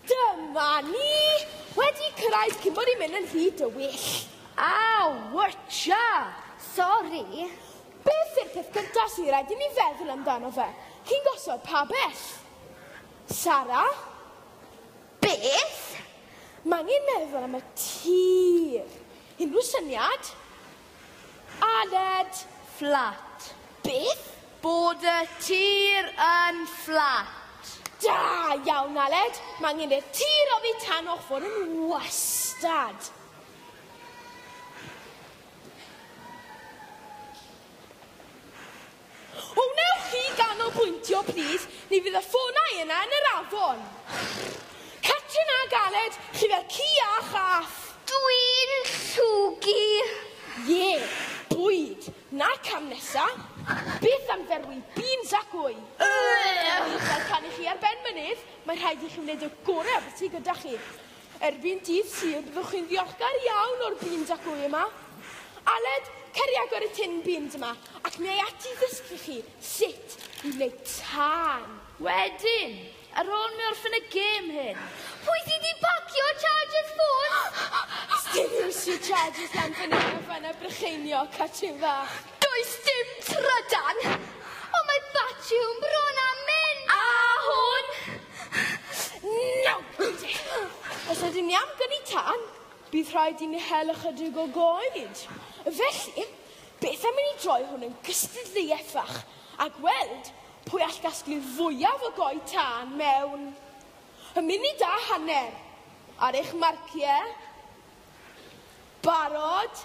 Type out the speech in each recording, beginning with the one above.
Dyma ni! Wedi cyrraedd cyn bod i'n mynd yn hyd y wyll. A, wytcha! Sori. Beth yw'r peth gyntaf sy'n rhaid i ni feddwl amdano fe? Chi'n gosod pa bell? Sara? Beth? Mae angen meddwl am y tir. Unrhyw syniad? Aled, Fflat. Beth? Bod y tir yn fflat. Da iawn, Aled! Mae angen i'r tir oddi tan o'ch fod yn wastad. O wnewch chi ganolbwyntio plîs, ni fydd y ffonau yna yn yr afon. Catrin ag Aled, chi fel ci a chath. Dwi'n llwgu. Ie, bwyd. Na cam nesa. Beth am ferwi beans ac wy? Ugh! Fel canu chi ar ben mynydd, mae rhaid i chi wneud y gorau o beth sydd gyda chi. Erbyn dydd Sul byddwch chi'n ddiolchgar iawn o'r bin dacw yma. Aled, cer i agor y tin bins yma ac mi ai ati ddysgu chi sut i wneud tân. Wedyn, ar ôl mi orffen y gêm hyn. Pwy sydd wedi pacio charger ffôn? Sdim iwsio chargers lan fynna na fana Brycheinio, cartyn fach. Does dim trydan! Ond mae Batiwm bron â mynd â hwn! Nawr, Gwynti, os ydyn ni am gynni tân, bydd rhaid i ni hel ychydig o goed. Felly, beth am i ni droi hwn yn gystadleuaeth fach a gweld pwy all gasglu'r fwyaf o goed tân mewn munud a hanner? Ar eich marciau? Barod?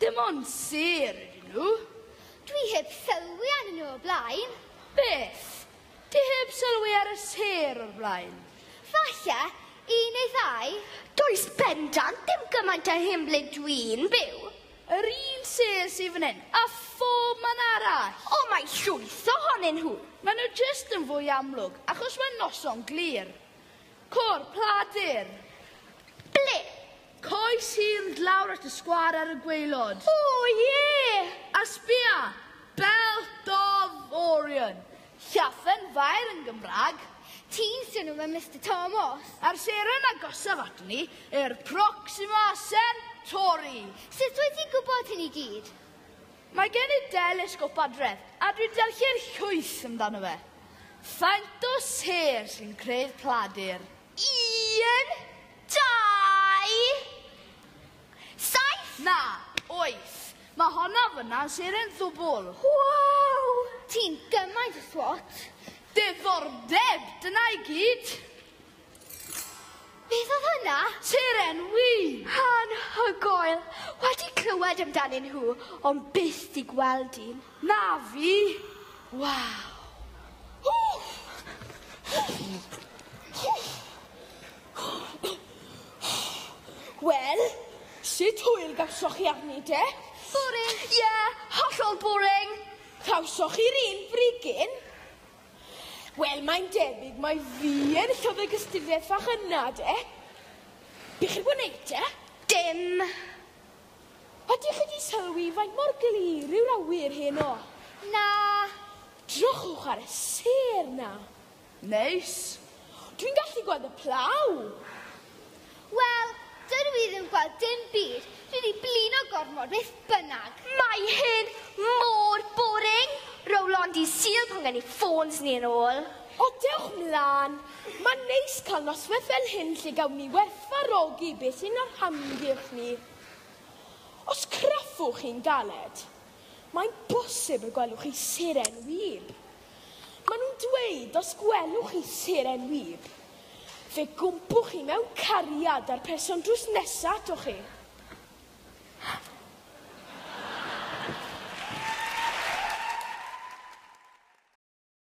Dim ond sêr ydyn nhw. Dwi heb sylwi arnyn nhw o'r blaen. Beth? Ti heb sylwi ar y sêr o'r blaen? Falle, un neu ddau. Does bendant ddim gymaint â hyn ble dwi'n byw. Yr un sêr sydd fan hyn, a phob man arall. O, mae llwyth ohonyn nhw. Maen nhw jyst yn fwy amlwg, achos mae'n noson glir. Côr, pla dur. Ble? Coes hir nd lawr at y sgwâr ar y gwaelod. O, ie! A sbia! Belt of Orion. Llaffen faer yn Gymraeg. Ti'n swnio fel Mister Tomos. A'r seren agosaf ato ni yw'r Proxima Centauri. Sut wyt ti'n gwybod hyn i gyd? Mae gen i delesgop adref, a dwi'n darllen llwyth amdano fe. Faint o sêr sy'n creu'r pladur? Un, dau, saith! Na, oes. Mae honno fyna'n sêr yn ddwbl. Wow! Ti'n gymaint o swot. Diddordeb, dyna i gyd. Beth oedd hwnna? Seren win! Anhygoel! Wedi clywed amdanyn nhw, ond byth di gweld un. Na fi! Waw! Wel, sut hwyl gawsoch chi arni de? Boring! Ie, yeah, hollol boring! Cawsoch chi'r un brigyn? Wel, mae'n debyg mai fi yn llyfr gystudiaeth fach yna de. Be chi'n gwneud te? Dim! Ydych chi 'di sylwi faint mor glir yw'r awyr heno? Na. Drychwch ar y sêr 'na. Neis. Dwi'n gallu gweld y plough. Wel, dydw i ddim gweld dim byd. Dwi 'di blino gormod beth bynnag. Mae hyn mor boring! Row Londi's Sul pan gen ni ffôns ni yn ôl. O, dewch mlan. Mae'n neis cael noswaith fel hyn lle gawn ni werthfawrogi beth sy'n ein hamgylch ni. Os craffwch chi'n galed, mae'n bosib y gwelwch chi seren wib. Maen nhw'n dweud os gwelwch chi seren wib, fe gwmpwch chi mewn cariad â'r person drws nesaf ato chi.